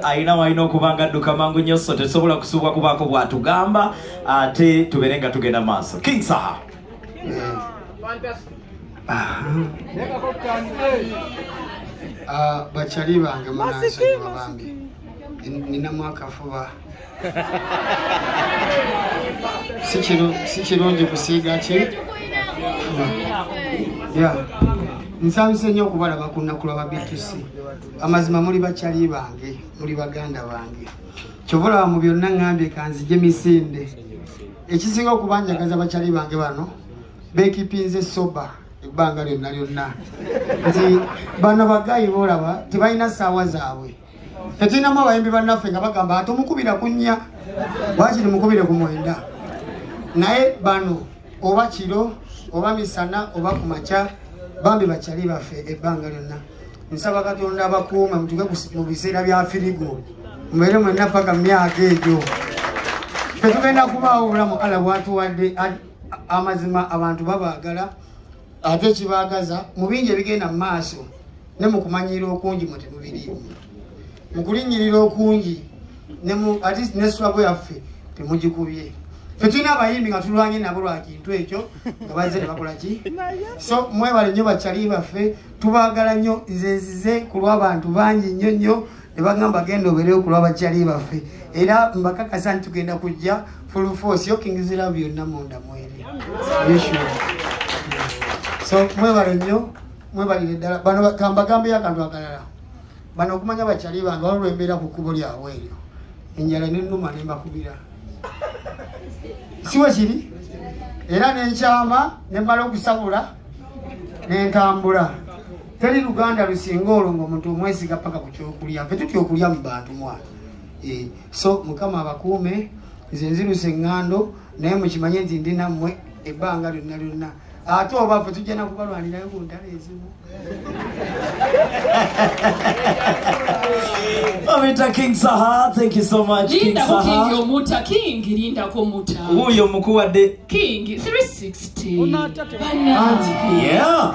alina walina okuba nga adduka mangu nnyo so tetusobola kusuubwa kubaako bwatugamba ate tubeere nga tugenda maaso king saha ah, bakyali bange munansonyiwa bambi nina mwakafuba si kirungi kusiiga ki nsanyuse nnyo okubalaba ku nnaku lwa babitusi amazima muli bakyali bange muli baganda bange kyova olaba mu byonna ŋambye kanzije misinde ekisinga okubanjagaza bakyali bange bano bekipinze soba ebbanga lyonna lyonna nti bano bagayi boolaba tebalina saawa zaabwe tetulinamu abayimbi bannaffe nga bagamba atomukubira kunnya wakiri mukubire ku mwenda naye bano oba kiro oba misana oba ku makya bambi bakyali baffe ebbanga lyonna nsaba katonda abakuuma mutuke mu biseera bya firigo mubeere mwenna paka mu myaka egyo tetugenda kubaawo obulamu ala bwatuwadde amazima abantu babaagala ate kibaagaza mu bingi ebigenda mu maaso ne mu kumanyiira okungi mu temubiriimu mu kulinnyirira okungi atist ne swago yaffe temugikubye fe tulina abayimbi nga tulwanye nabo lwa kintu ekyo nga bazze ne bakola ki so mwebale nnyo bakyali baffe tubaagala nnyo nze nzize ku lw'abantu bangi nnyo nnyo ne bagamba genda obeereyo ku lwabakyali baffe era mbakakasa nti tugenda kujja full force yokingizirabu byonna munda mweri so mwebale nnyo mwebalire ddala bano kambagambeyo akantu akalala bano okumanya bakyali bange waliwo embeera ku kkubo lyabwe eryo enjala nenuma nembakubira siwe kiri era nenkyama nembala okusabula nentambula teri luganda lusinga olwo ngaomuntu omwesiga paka ku kyokulya fe tutya okulya mu bantu mwana eh, so mukama abakuume nze nziruse eŋŋando naye mukimanye nti ndi nammwe ebbanga lyonna lyonna ate oba fe tujja nakubalwanirayo ku ntalo ezimu Omita King Saha, thank you so much. King Saha. King Omuta King, Linda Komuta. Uyo mkuu wa de. King 360. Unata. Yeah.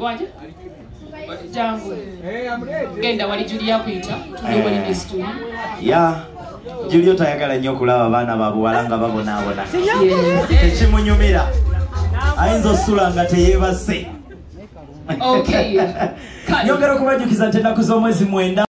waje jangu genda wali julia kuyita tuliwali eh. nesituli ya julia otayagala nnyo okulaba abaana babuwala nga babonaabona tekimunyumira ayinza osula nga teyebase nyongera okubajjukiza nti ennaku z'omwezi mwenda